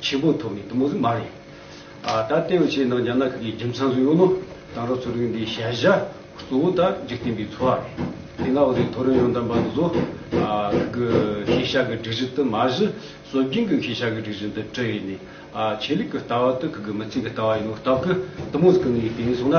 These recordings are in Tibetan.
ཆེན་པོ་ཐོབ་མེད་དུ་མོ་རི་མ་རེད། ད་ལྟའི་བར་ཆེས་ནང་རྒྱ་ནག་གི་རྒྱུ་མཚན་སུ་ཡོད་ནོ། དང་རོགས་ཚོ་རིགས་འདིའི་བྱ་བཞག་གཙོ་བོ་ད་འཇིག་རྟེན་པའི་འཚོ་བ་རེད། དེ་སྔ་བོད་རིགས་ཐོ་རེངས་ཡོང་དམ་པ་འདི་ཚོ། གི་ཤེས་བྱ་གི་སྒྲིག་གཞི་དུ་མ་གཞི་སྲོལ་རྒྱུན་གི་ཤེས་བྱ་གི་སྒྲིག་གཞི་འདི་བྲི་ཡི་ནས། ཆེད་ལུགས་གི་ལྟ་བ་དུ་གི་གི་མི་ཚེ་གི་ལྟ་བ་ཡིན་ནོ་སྟབས་གི་དུ་མོ་གི་ངའི་བསྟན་སྲུང་ལ་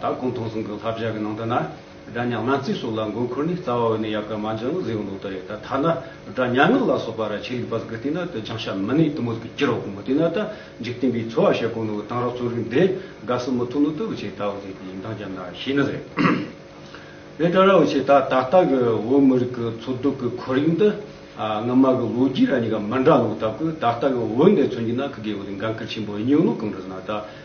ད་གུང་ཐུང་ཟུང་གི་ལྷ་བཞག་གི་ནང་དུ་ན་སྒྲ་ཉག་སྣ་རྩིས་སོགས་ལ་མགོ་འཁོར་ནས་རྩ་བ་འོད་ནས་ཡལ་གར་མ་འབྱིན་ལ་གཟིགས་ལོག་ལྟ་རེད་ད་ཐ་ན་སྒྲ་ཉག་ངག་ལ་སོགས་པ་ར་ཆིལ་ལིག་པ་ཟིག་གི་སྟེང་ན་དུ་ཆང་ཤ་མི་ནི་དུ་མོ་ཟིག་གི་ཀྱི་རོག་གུ་མོ་དེ་ན་ད་འཇིག་རྟེན་པའི་འཚོ་བ་ཤ་གོ་ནོ་དང་རོག་ཚོ་རིགས་འདི་དགའ་སི་མི་ཐུག་ནོ་དུ་བུ་ཆེ་ད་བུ་ཟིག་གི་ཡིན་དང་རྒྱབ་ན་ཤི་ནི་རེད། དེ་ད་ར་བུ་ཆེ་ད་ད་ལྟ་གི་བོད་མི་རིགས་ཀྱི་འཚོ་སྡོད་ཀྱི་ཁོར་ཡུག་འདི་སྔོན་མ་གི་ལོ་རྒྱུས་ར་གཉིས་ཀ་མི་འདྲ་ལོ་ད་གུ་ད་ལྟ་གི་བོད་འདི་འཚོ་རྒྱུ་ན་གི་དགེ་བ་དེ་འགན་ཁུར་ཆེན་པོ་ཡིན་ནོ་གང་དུ་ཟིན་ན་ད།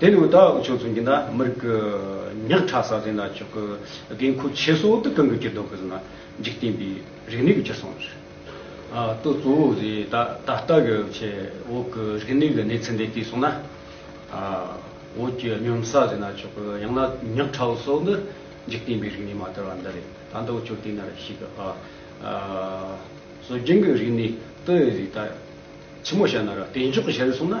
དེ་ནས་འུ་ད་ཨག་ཆོས་ཚུན་གྱི་ན་མི་རིག་གི་ཉག་ཕྲ་ས་ཟིན་ན་ཆོག་གི་དགེ་མཁོ་ཆེ་སོ་ཏི་གང་གི་གྱི་དོ་གི་ཟིན་ན་འཇིག་རྟེན་པའི་རིག་གནས་གི་གྱི་སོང་རེད། ཏོ་གཙོ་བོ་ཟི་ད་ད་ལྟ་གི་ཆེ་འོག་གི་རིག་གནས་གི་གནས་ཚུན་དེ་ལྟའི་སོང་ན། འོག་གྱི་གཉོམ་ས་ཟིན་ན་ཆོག་གི་ཡང་ན་ཉག་ཕྲ་བོ་སོག་ནི་འཇིག་རྟེན་པའི་རིག་གནས་མ་དར་བ་འདི་རེད་ད་འདི་འུ་ཆོས་ལྟས་ན་རེ་ཤིག་གི། སྲོལ་རྒྱུན་གི་རིག་གནས་ཏི་ཟི་ད་ཆི་མོ་བྱ་ན་ར་བལྟས་འཇོག་གི་བྱ་རེ་སོང་ན།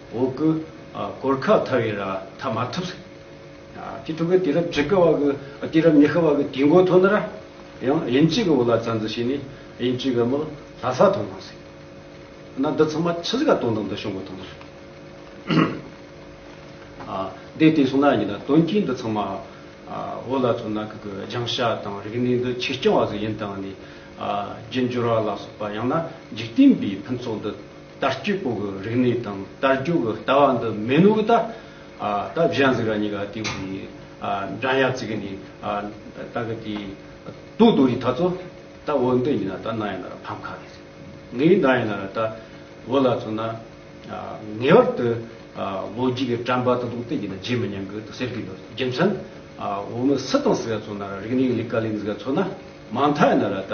འོ་སྐོལ། གོར་ཁ་ཐ་བའི་ར་ཐ་མ་ཐུབ། ཅི་ཐུབ་ཀི་དེ་རབས་ཇི་ཀ་བ་གི་དེ་རབས་ཉི་ཤ་བ་གི་དུས་མགོ་ཐོ་ན་ར། ཡང་དབྱིན་ཇི་གི་བོ་ལ་ཙན་ཙི་ཤི་ནི་དབྱིན་ཇི་གི་མོ་ལྷ་ས་ཐོ་ན་སི། ན་འདི་ཚང་མ་ཆི་ཟི་ག་དོན་དང་འདི་ཤོང་གི་ཐོ་ན་ར། ཨ། དེ་དེ་སོང་ན་ཡིན་ན་དོན་གྱིས་འདི་ཚང་མ་བོ་ལ་ཐོ་ན་གི་གི་རྒྱང་ཤ་དང་རིག་གནས་འདི་ཆིག་རྐྱང་བ་ཟི་ཡིན་དང་ནི། རྒྱུ་འབྱོར་བ་ལ་སོགས་པ་ཡང་ན་འཇིག་རྟེན་པའི་ཕུན་ཚོགས་འདི། དར་སྐྱིད་པོ་གི་རིག་གནས་དང་དར་རྒྱུག་གི་ལྟ་བ་འདི་མེད་ནོ་གི་ད། ད་གཞན་གཟིགས་ར་གཉིས་ཀ་དེ་གི་འགྲན་ཡ་བརྩི་གི་ནི། ད་གི་དེ་དུག་དུག་ཡི་ད་ཚོ་ད་འོ་འདི་ཡིན་ན་ད་ནང་ཡིན་ན་ར་ཕམ་ཁ་རེད། ངའི་ཡི་ནང་ཡིན་ན་ར་ད་འོ་ལ་ཚོ་ན། ངེས་བར་དུ་ལོ་རྒྱུས་གི་དྲན་པ་དུ་དུག་དེ་ཡི་ན་བརྗེད་མི་ཉན་གི་དུ་ཟེར་གི་འདུག་རྒྱུ་མཚན། འོ་མི་སི་དང་སི་ག་ཚོ་ན་ར་རིག་གནས་གི་ལི་ཀ་ལིང་གི་ཚོ་ན་མང་ཐ་ཡིན་ན་ར་ད།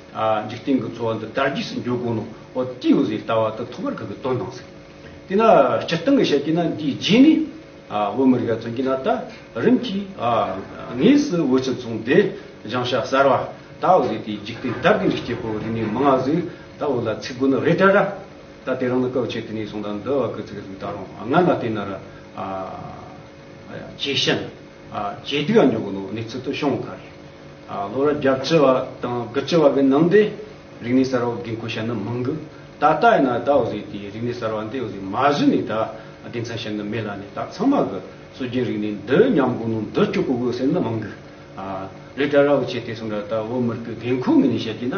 འཇིག་རྟེན་གྱི་འཚོ་བ་འདི་དར་རྒྱས་སུ་འགྱུར་དགོས་ན་ཨོ་ཏི་ཡོ་ཟེར་ལྟ་བ་དེ་ཐོག་མར་ཁག་གིས་དོན་དང་ཟེར། དེས་ན་སྤྱིར་བཏང་གིས་བཤད་ཀྱིན་ན་འདིའི་རྗེས་ནས་བོད་མི་རིགས་ལ་མཚོན་གྱིན་ན་ད་རིམ་གྱིས་དངོས་སུ་བོད་སྤྱི་ཚོགས་འདི་བྱང་ཤ་གསར་བ་ད་ཨོ་ཟེར་དེའི་འཇིག་རྟེན་དར་རྒྱས་འགྲིག་སྐྱེས་པོ་རིག་གནས་མི་ང་ཟིག་ད་ཨོ་ལ་ཚིག་དགོས་ནི་རེད་དྲ་ར། ད་དེ་རང་ནི་སྐབས་ཕྱེ་དེ་ནས་བཟུང་ད་འདི་བ་གི་ཚིག་རིགས་ད་རུང་སྔ་ན་བལྟས་ན་ར། ཇེ་ཞན། ཇེ་སྡུག་ཡང་འགྱུར་གྱི་འདུག་གནས་ཚུལ་དུ་བྱུང་ཁར། ལོ་རབས་བརྒྱ་བཅུ་བ་དང་དགུ་བཅུ་བ་གི་ནང་དུ། རིག་གནས་གསར་བ་འགན་འཁུར་བྱེད་འདོད་མང་གི། ད་ལྟ་ཡིན་ན་ད་འོ་ཟེར་དེ་རིག་གནས་གསར་བ་འདི་འོ་ཟེར་མ་བཞི་ནས་ད་དེ་མཚན་བྱེད་འདོད་མེད་ལ་ནས་ད་ཚང་མ་གི་སྲོལ་རྒྱུན་རིག་གནས་འདི་ཉམས་གོང་ནང་འདུར་བཅུག་གོ་དགོས་ཟེར་འདོད་མང་གི། ལས་གྲྭ་ར་བོ་ཆེ་དེ་ཚོ་འདྲ་ད་བོད་མི་རིགས་ཀྱི་འགན་འཁུར་ངོས་ནས་བཤད་ཀྱི་ན།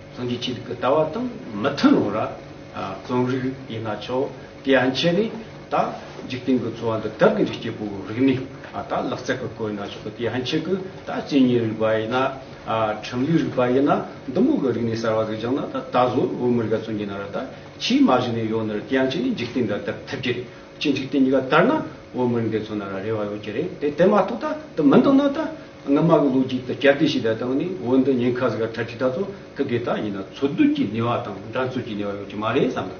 རྫོང་གི་སྤྱི་ལུགས་ཀྱི་ལྟ་བ་དང་མི་མཐུན་རུང་ར་རྫོང་རིགས་ཡིན་ན་ཆོག་དེ་ཡང་ཁྱེད་ནས་ད་འཇིག་རྟེན་གྱི་འཚོ་བ་འདི་དག་གི་རིགས་སྐྱེ་བོའི་རིགས་ནས་ད་ལག་རྩལ་གྱི་བཀོལ་ན་ཆོག་གི་དེ་ཡང་ཁྱེད་ཀྱི་ད་སྐྱེ་གཉེན་རིགས་པ་ཡིན་ན་ཁྲིམས་ལུགས་རིགས་པ་ཡིན་ན་འདུ་འགོད་ཀྱི་རིགས་ནས་གསར་བ་ཟིག་བྱུང་ན་ད་ད་གཟོད་བོད་མི་རིགས་ཀ་ཚོ་ཉིད་ན་ར་ད་ཕྱིའི་མ་གཞི་ནས་ཡོད་ནི་རེད་དེ་ཡང་ཁྱེད་ནས་འཇིག་རྟེན་འདི་བདག་ཐུབ་ཀྱི་རེད་ཕྱིའི་འཇིག་རྟེན་གཉིས་ཀ་དར་ན་བོད་མི་རིགས་འདི་ཚོ་ན་ར་རེ་བ་ཡོད་ཀྱི་རེད་དེ་དེ་མ་ཐུག་ད་དེ་མི་འདུག་ན་ད། སྔ་མ་གི་ལུགས་ཀྱིས་ད་ཀྱར་ཏི་ཞེས་བརྡ་བཏང་ནས་འོན་ཏེ་ཉེན་ཁ་ཟེར་ག་ཁྲ་ཁྲི་ད་ཚོ་ཁ་གི་ད་ཡིན་ན་འཚོ་སྡོད་ཀྱི་ནུས་བ་དང་འགྲན་རྩོད་ཀྱི་ནུས་བ་ཡོད་ཀྱི་མ་རེད་བསམ་ན།